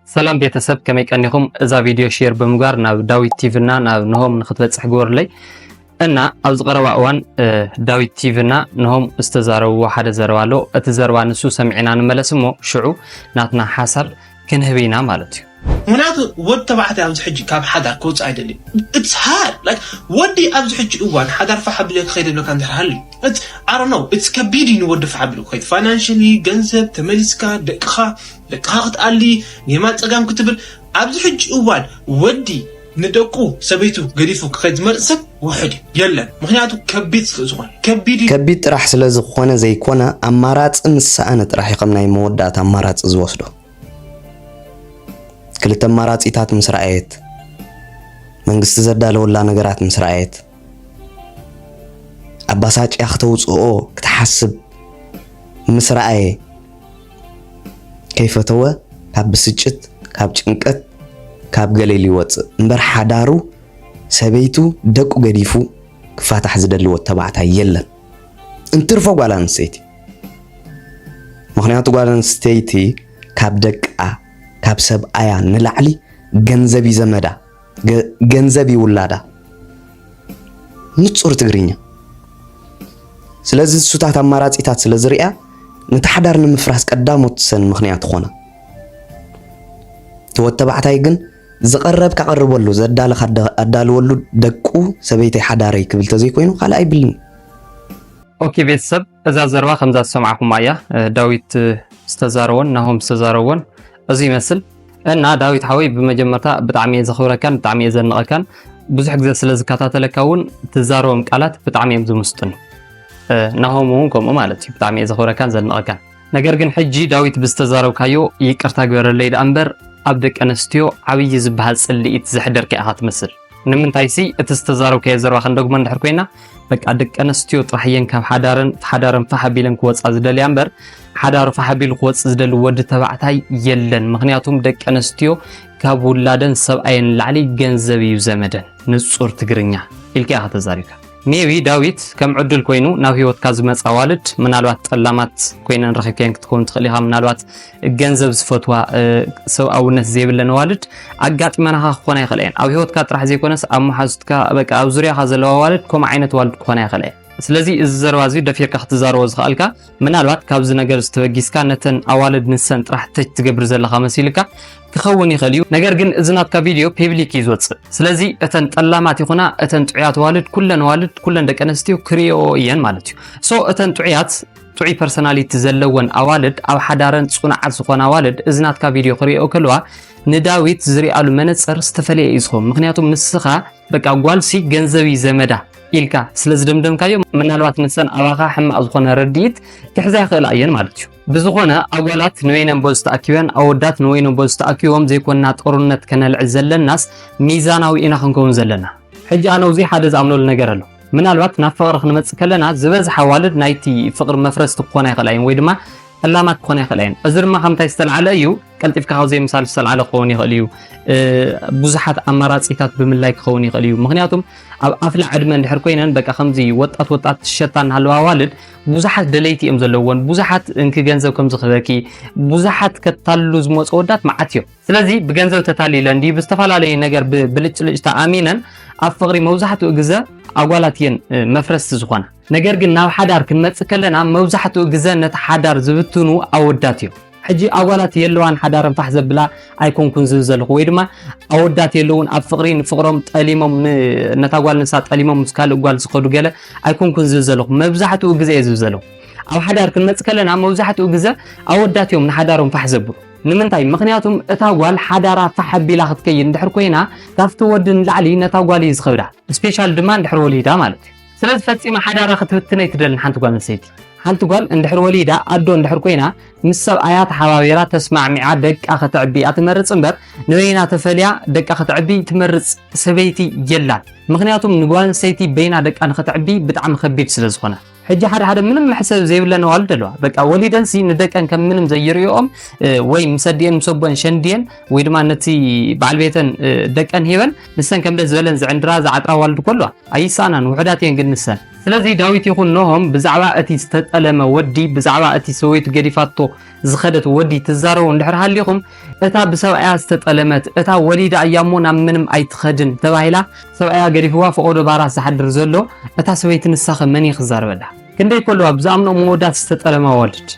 ሰላም ቤተሰብ ከመይ ቀኒኹም? እዛ ቪድዮ ሼር ብምግባር ናብ ዳዊት ቲቪ እና ናብ ንሆም ንክትበፅሕ ግበሩለይ እና ኣብዚ ቀረባ እዋን ዳዊት ቲቪ እና ንሆም ዝተዛረብዎ ሓደ ዘረባ ኣሎ። እቲ ዘረባ ንሱ ሰሚዕና ንመለስ እሞ ሽዑ ናትና ሓሳብ ክንህብ ኢና ማለት እዩ። ምክንያቱ ወዲ ተባዕታይ ኣብዚ ሕጂ ካብ ሓዳር ክወፅእ ኣይደልዩ ኢትስ ሃርድ ላይክ ወዲ ኣብዚ ሕጂ እዋን ሓዳር ፋሕ ኣቢለ ክኸይድ ኣለካ እንድሕር ሃልዩ ኣሮነው ኢትስ ከቢድ እዩ ንወዲ ፋሕ ኣቢሉ ክኸይድ ፋይናንሽሊ ገንዘብ ተመሊስካ ደቅኻ ለቅኻ ክትኣሊ ኔማ ጸጋም ክትብል ኣብዚ ሕጂ እዋን ወዲ ንደቁ ሰበይቱ ገዲፉ ክኸድ ዝመርጽ ሰብ ውሑድ እዩ የለን ምክንያቱ ከቢድ ስለ ዝኾነ ከቢድ እዩ ከቢድ ጥራሕ ስለ ዝኾነ ዘይኮነ ኣማራጺ ምስ ሰኣነ ጥራሕ እዩ ከም ናይ መወዳእታ ኣማራጺ ዝወስዶ ክልተ ኣማራጺታት ምስ ረኣየት መንግስቲ ዘዳለወላ ነገራት ምስ ረኣየት ኣባሳጭያ ክተውፅኦ ክትሓስብ ምስ ረኣየ ከይፈተወ ካብ ብስጭት ካብ ጭንቀት ካብ ገለ ኢሉ ይወጽእ እምበር ሓዳሩ ሰበይቱ ደቁ ገዲፉ ክፋታሕ ዝደሊ ወድ ተባዕታይ የለን እንትርፎ ጓል ኣንስተይቲ ምክንያቱ ጓል ኣንስተይቲ ካብ ደቃ ካብ ሰብኣያ ንላዕሊ ገንዘብ እዩ ዘመዳ ገንዘብ ይውላዳ ንጹር ትግርኛ ስለዚ ሱታት ኣማራጺታት ስለ ዝርያ ነቲ ሓዳር ንምፍራስ ቀዳሞት ሰን ምኽንያት ኾነ እቲ ወድ ተባዕታይ ግን ዝቐረብ ካቐርበሉ ዘዳልኽ ኣዳልወሉ ደቁ ሰበይተይ ሓዳረይ ክብል ተዘይኮይኑ ካልእ ኣይብልን ኦኬ ቤተሰብ እዛ ዘረባ ከምዛ ዝሰማዕኹማ እያ ዳዊት ዝተዛረቦን ናሆም ዝተዛረቦን እዚ ይመስል እና ዳዊት ሓወይ ብመጀመርታ ብጣዕሚ እየ ዘኽብረካን ብጣዕሚ እየ ዘንቐካን ብዙሕ ግዜ ስለ ዝከታተለካ እውን ትዛረቦም ቃላት ብጣዕሚ እዮም ዝምስጡኒ ናሆም እውን ከምኡ ማለት እዩ ብጣዕሚ እየ ዘኽብረካን ዘንቐካን ነገር ግን ሕጂ ዳዊት ብዝተዛረብካዮ ይቅርታ ግበረለይ ደኣ እምበር ኣብ ደቂ ኣንስትዮ ዓብዪ ዝበሃል ጽልኢት ዘሕደርካ ኢኻ ትመስል ንምንታይሲ እቲ ዝተዛረብካዮ ዘረባ ክንደግሞ እንድሕር ኮይና በቃ ደቂ ኣንስትዮ ጥራሕ እየን ካብ ሓዳረን ሓዳረን ፋሕ ኣቢለን ክወፃ ዝደልያ እምበር ሓዳሩ ፋሕ ኣቢሉ ክወፅእ ዝደሊ ወዲ ተባዕታይ የለን። ምክንያቱም ደቂ ኣንስትዮ ካብ ውላደን ሰብኣየን ላዕሊ ገንዘብ እዩ ዘመደን። ንፁር ትግርኛ ኢልካ ኢኻ ተዛሪብካ። ሜቢ ዳዊት ከም ዕዱል ኮይኑ ናብ ህይወትካ ዝመጻ ኣዋልድ ምናልባት ጠላማት ኮይነን ረኺብከን ክትከውን ትኽእል ኢኻ። ምናልባት ገንዘብ ዝፈትዋ ሰብኣውነት ዘይብለን ኣዋልድ ኣጋጢመናኻ ክኾና ይኽእላ እየን። ኣብ ህይወትካ ጥራሕ ዘይኮነስ ኣብ መሓዙትካ በቃ ኣብ ዙርያኻ ዘለዋ ኣዋልድ ከምኡ ዓይነት ኣዋልድ ክኾና ይኽእላ እየን። ስለዚ እዚ ዘረባ እዚ ደፊርካ ክትዛረቦ ዝኸኣልካ ምናልባት ካብዚ ነገር እዚ ተበጊስካ ነተን ኣዋልድ ንሰን ጥራሕ ተች ትገብር ዘለኻ መሲልካ ክኸውን ይኽእል እዩ። ነገር ግን እዚ ናትካ ቪድዮ ፔብሊክ እዩ ዝወፅእ። ስለዚ እተን ጠላማት ይኹና እተን ጥዑያት ኣዋልድ ኩለን ኣዋልድ ኩለን ደቂ ኣንስትዮ ክሪኦ እየን ማለት እዩ። ሶ እተን ጥዑያት ጥዑይ ፐርሶናሊቲ ዘለወን ኣዋልድ ኣብ ሓዳረን ፅኑዓት ዝኾና ኣዋልድ እዚ ናትካ ቪድዮ ክሪኦ ከለዋ ንዳዊት ዝሪኣሉ መነፅር ዝተፈለየ እዩ ዝኸውን። ምክንያቱም ንስኻ በቃ ጓልሲ ገንዘብ እዩ ዘመዳ ኢልካ ስለ ዝደምደምካዮ ምናልባት ንሰን ኣባኻ ሕማቕ ዝኾነ ረድኢት ክሕዛ ይኽእላ እየን ማለት እዩ ብዝኾነ ኣጓላት ንወይነን ቦዝ ተኣኪበን ኣወዳት ንወይኖም ቦዝ ተኣኪቦም ዘይኮንና ጦርነት ከነልዕል ዘለናስ ሚዛናዊ ኢና ክንከውን ዘለና ሕጂ ኣነ ውዚ ሓደ ዝኣምነሉ ነገር ኣሎ ምናልባት ናብ ፍቕሪ ክንመፅእ ከለና ዝበዝሓ ኣዋልድ ናይቲ ፍቕሪ መፍረስቲ ክኾና ይኽእላ እየን ወይ ድማ ፈላማት ክኾና ይኽእላ እየን። እዚ ድማ ካብ ምንታይ ዝተልዓለ እዩ? ቀልጢፍካ ካብ ዘይምሳል ዝተልዓለ ክኸውን ይኽእል እዩ። ብዙሓት ኣማራጺታት ብምላይ ክኸውን ይኽእል እዩ። ምክንያቱም ኣብ ኣፍላ ዕድመ እንድሕር ኮይነን በቃ ከምዚ ወጣት ወጣት ሸታ እናሃለዋ ኣዋልድ ብዙሓት ደለይቲ እዮም ዘለዎን ብዙሓት እንኪ ገንዘብ ከም ዝኽበኪ ብዙሓት ከታሉ ዝመፁ ወዳት መዓት እዮም። ስለዚ ብገንዘብ ተታሊለን ድዩ ብዝተፈላለየ ነገር ብብልጭልጭታ ኣሚነን ኣብ ፍቕሪ መብዛሕትኡ ግዘ ኣጓላት እየን መፍረስቲ ዝኾና። ነገር ግን ናብ ሓዳር ክንመፅእ ከለና መብዛሕትኡ ግዘ ነቲ ሓዳር ዝብትኑ ኣወዳት እዮም። ሕጂ ኣጓላት የለዋን ሓዳረን ፋሕ ዘብላ ኣይኮንኩን ዝብል ዘለኹ ወይ ድማ ኣወዳት የለውን ኣብ ፍቕሪ ንፍቕሮም ጠሊሞም ነታ ጓል ንሳ ጠሊሞም ምስ ካልእ ጓል ዝኸዱ ገለ ኣይኮንኩን ዝብል ዘለኹ መብዛሕትኡ ግዘ እየ ዝብል ዘለኹ። ኣብ ሓዳር ክንመፅእ ከለና መብዛሕትኡ ግዘ ኣወዳት እዮም ንሓዳሮም ፋሕ ዘብሉ። ንምንታይ ምኽንያቱም እታ ጓል ሓዳራ ፋሕ ኣቢላ ክትከይድ እንድሕር ኮይና ካብቲ ወዲ ንላዕሊ ነታ ጓል እዩ ዝኸብዳ ስፔሻል ድማ እንድሕር ወሊዳ ማለት እዩ ስለዚ ፈጺማ ሓዳራ ክትብትን ኣይትደልን ሓንቲ ጓል ኣንስተይቲ ሓንቲ ጓል እንድሕር ወሊዳ ኣዶ እንድሕር ኮይና ምስ ሰብኣያ ተሓባቢራ ተስማዕሚዓ ደቃ ከተዕቢ እያ ትመርጽ እምበር ንበይና ተፈልያ ደቃ ከተዕቢ ትመርጽ ሰበይቲ የላን ምክንያቱም ንጓል ኣንስተይቲ በይና ደቃ ንክተዕቢ ብጣዕሚ ከቢድ ስለ ዝኾነ ሕጂ ሓደ ሓደ ምንም መሕሰብ ዘይብለን ኣዋልድ ኣለዋ በቃ ወሊደንሲ ንደቀን ከም ምንም ዘይርእኦም ወይ ምስ ኣዲኤን ምስ ኣቦን ሸንድየን ወይ ድማ ነቲ በዓል ቤተን ደቀን ሂበን ንሰን ከም ደስ ዝበለን ዝዕንድራ ዝዓጥራ ኣዋልድ እኮ ኣለዋ ኣይሰኣናን ውሑዳት እየን ግን ንሰን ስለዚ ዳዊት ይኹን ኖሆም ብዛዕባ እቲ ዝተጠለመ ወዲ ብዛዕባ እቲ ሰበይቱ ገዲፋቶ ዝኸደት ወዲ ትዛረቡ እንድሕር ሃሊኹም እታ ብሰብኣያ ዝተጠለመት እታ ወሊዳ እያ እሞ ናብ ምንም ኣይትኸድን ተባሂላ ሰብኣያ ገዲፍዋ ፈቆዶ ባራት ዝሓድር ዘሎ እታ ሰበይቲ ንሳኸ መን እዩ ክዛረበላ ክንደይ ከለዋ ብዝኣምኖ መወዳት ዝተጠለመ ወልድ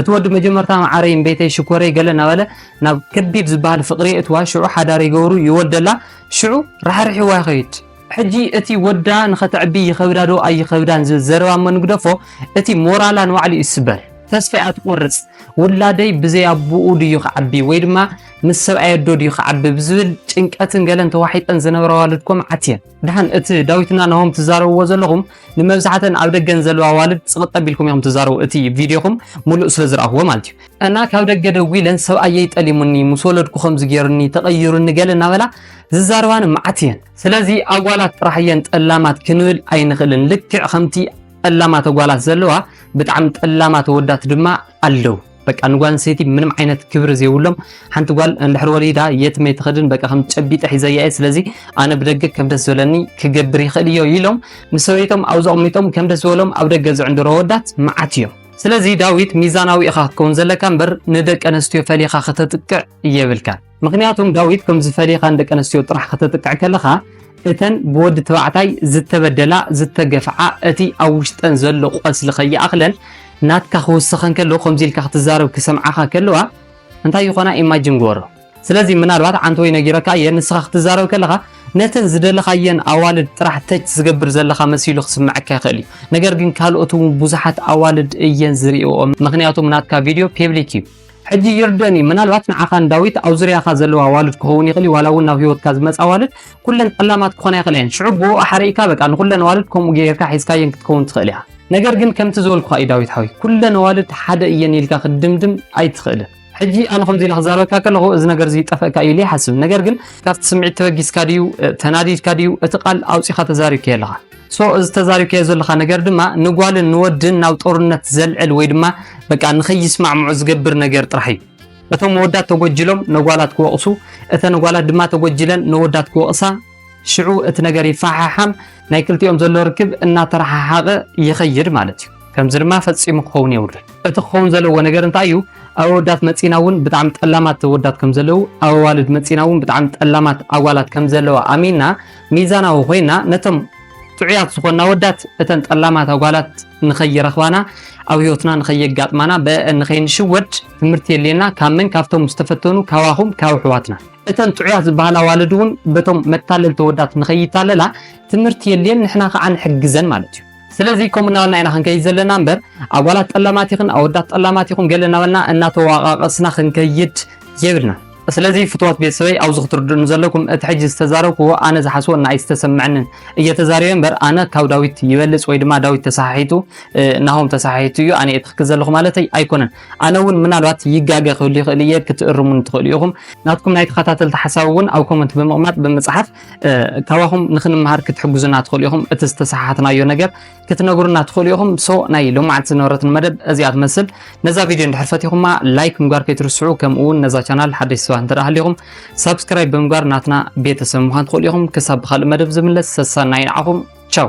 እቲ ወዲ መጀመርታ ማዓረይ ቤተይ ሽኮረይ ገለ እናበለ ናብ ከቢድ ዝበሃል ፍቅሪ የእትዋ ሽዑ ሓዳር ይገብሩ ይወልደላ ሽዑ ራሕርሒዋ ይኸይድ ሕጂ እቲ ወዳ ንኸተዕቢ ይኸብዳ ዶ ኣይኸብዳን ዝብል ዘረባ እሞ ንግደፎ እቲ ሞራላ ንባዕሉ እዩ ዝስበር። ተስፋ እያ ትቆርጽ ውላደይ ብዘይ ኣቡኡ ድዩ ክዓቢ ወይ ድማ ምስ ሰብኣይ ኣዶ ድዩ ክዓቢ ብዝብል ጭንቀትን ገለን ተዋሒጠን ዝነብራ ኣዋልድ እኮ መዓት እየን። ድሓን እቲ ዳዊትና ናሆም ትዛረብዎ ዘለኹም ንመብዛሕተን ኣብ ደገ ንዘለዋ ኣዋልድ ጽቕጥ ኣቢልኩም ኢኹም ትዛረቡ እቲ ቪድዮኹም ምሉእ ስለ ዝረኣኽዎ ማለት እዩ። እና ካብ ደገ ደዊለን ሰብኣየይ ጠሊሙኒ ምስ ወለድኩ ከምዚ ጌሩኒ ተቐይሩኒ ገለ እናበላ ዝዛረባን መዓት እየን ስለዚ ኣጓላት ጥራሕ እየን ጠላማት ክንብል ኣይንኽእልን ልክዕ ከምቲ ጠላማት ኣጓላት ዘለዋ ብጣዕሚ ጠላማት ኣወዳት ድማ ኣለው በቃ ንጓል ኣንስተይቲ ምንም ዓይነት ክብሪ ዘይብሎም ሓንቲ ጓል እንድሕር ወሊዳ የትም ኣይትኸድን በቃ ከም ጨቢጠ ሒዘያ እየ ስለዚ ኣነ ብደገ ከም ደስ ዝበለኒ ክገብር ይኽእል እዮ ኢሎም ምስ ሰበይቶም ኣብ ዘቕሚጦም ከም ደስ ዝበሎም ኣብ ደገ ዝዕንድሮ ወዳት መዓት እዮም ስለዚ ዳዊት ሚዛናዊ ኢኻ ክትከውን ዘለካ እምበር ንደቂ ኣንስትዮ ፈሊኻ ከተጥቅዕ እየብልካን ምኽንያቱም ዳዊት ከምዚ ፈሊኻ ንደቂ ኣንስትዮ ጥራሕ ከተጥቅዕ ከለኻ እተን ብወዲ ተባዕታይ ዝተበደላ ዝተገፍዓ እቲ ኣብ ውሽጠን ዘሎ ቆስሊ ከይኣኽለን ናትካ ክውስኸን ከሎ ከምዚ ኢልካ ክትዛረብ ክሰምዓኻ ከለዋ እንታይ ይኾና ኢማጅን ግበሮ ስለዚ ምናልባት ዓንቲ ወይ ነጊረካ እየ ንስኻ ክትዛረብ ከለኻ ነተን ዝደለኻየን ኣዋልድ ጥራሕ ተች ዝገብር ዘለኻ መሲሉ ክስምዐካ ይኽእል እዩ ነገር ግን ካልኦት እውን ብዙሓት ኣዋልድ እየን ዝሪእኦ ምክንያቱም ናትካ ቪድዮ ፔብሊክ እዩ ሕጂ ይርደን እዩ ምናልባት ንዓኻን ዳዊት ኣብ ዙርያኻ ዘለዋ ኣዋልድ ክኸውን ይኽእል እዩ ዋላ እውን ናብ ህይወትካ ዝመጻ ኣዋልድ ኩለን ጠላማት ክኾና ይኽእላ እየን ሽዑ ብኡ ኣሓሪእካ በቃ ንኹለን ኣዋልድ ከምኡ ገይርካ ሒዝካየን ክትከውን ትኽእል ኢኻ ነገር ግን ከምቲ ዝበልኩኻ እዩ ዳዊት ሓወይ ኩለን ኣዋልድ ሓደ እየን ኢልካ ክትድምድም ኣይትኽእልን ሕጂ ኣነ ከምዚ ኢለ ክዛረበካ ከለኹ እዚ ነገር እዚ ጠፈእካ እዩ ኢለ ይሓስብ ነገር ግን ካብቲ ስምዒት ተበጊስካ ድዩ ተናዲድካ ድዩ እቲ ቃል ኣውጺኻ ተዛሪብካዮ ኣለኻ So እዚ ተዛሪብካዮ ዘለኻ ነገር ድማ ንጓልን ንወድን ናብ ጦርነት ዘልዕል ወይ ድማ በቃ ንኸይስማዕምዑ ዝገብር ነገር ጥራሕ እዩ። እቶም ኣወዳት ተጎጅሎም ነጓላት ክወቕሱ፣ እተን ጓላት ድማ ተጎጅለን ነወዳት ክወቕሳ፣ ሽዑ እቲ ነገር ይፈሓሓም፣ ናይ ክልቲኦም ዘሎ ርክብ እናተረሓሓቐ ይኸይድ ማለት እዩ። ከምዚ ድማ ፈጺሙ ክኸውን የብሉን። እቲ ክኸውን ዘለዎ ነገር እንታይ እዩ? ኣብ ኣወዳት መጺና እውን ብጣዕሚ ጠላማት ኣወዳት ከም ዘለዉ፣ ኣብ ኣዋልድ መጺና እውን ብጣዕሚ ጠላማት ኣጓላት ከም ዘለዋ ኣሚንና ሚዛናዊ ኮይና ነቶም ጥዑያት ዝኾኑ ኣወዳት እተን ጠላማት ኣጓላት ንኸይረኽባና ኣብ ህይወትና ንኸየጋጥማና ብአን ንኸይንሽወድ ትምህርቲ የድልየና ካብ መን ካብቶም ዝተፈተኑ ካባኹም ካብ ኣሕዋትና እተን ጥዑያት ዝበሃላ ኣዋልድ እውን በቶም መታለልቲ ኣወዳት ንኸይታለላ ትምህርቲ የድልየን ንሕና ከዓ ንሕግዘን ማለት እዩ ስለዚ ከምኡ እናበልና ኢና ክንከይድ ዘለና እምበር ኣጓላት ጠላማት ይኽን ኣወዳት ጠላማት ይኹን ገለ እናበልና እናተዋቃቀስና ክንከይድ የብልናን። ስለዚ ፍትዋት ቤተሰበይ ኣብዚ ክትርድኡኒ ዘለኩም እቲ ሕጂ ዝተዛረብክዎ ኣነ ዝሓስቦ እና ኣይዝተሰመዐንን እየ ተዛሪበ እምበር ኣነ ካብ ዳዊት ይበልፅ ወይ ድማ ዳዊት ተሰሓሒቱ ናሆም ተሰሓሒቱ እዩ ኣነ እየ ትክክል ዘለኹ ማለተይ ኣይኮነን ኣነ እውን ምናልባት ይጋገ ክህሉ ይኽእል እየ ክትእርሙኒ ትኽእሉ ኢኹም ናትኩም ናይ ተኸታተልቲ ሓሳብ እውን ኣብ ኮመንት ብምቕማጥ ብምፅሓፍ ካባኹም ንክንምሃር ክትሕግዙና ትኽእሉ ኢኹም። እቲ ዝተሰሓሓትናዮ ነገር ክትነግሩና ትኽእሉ ኢኹም። ሶ ናይ ሎማዓንቲ ዝነበረትና መደብ እዚኣ ትመስል። ነዛ ቪድዮ እንድሕር ፈቲኹማ ላይክ ምግባር ከይትርስዑ፣ ከምኡ እውን ነዛ ቻናል ሓደሽቲ ሰባት እንተደኣ ሃሊኹም ሳብስክራይብ ብምግባር ናትና ቤተሰብ ምዃን ትኽእሉ ኢኹም። ክሳብ ብካልእ መደብ ዝምለስ ሰሰናዩ ንዓኹም ቻው።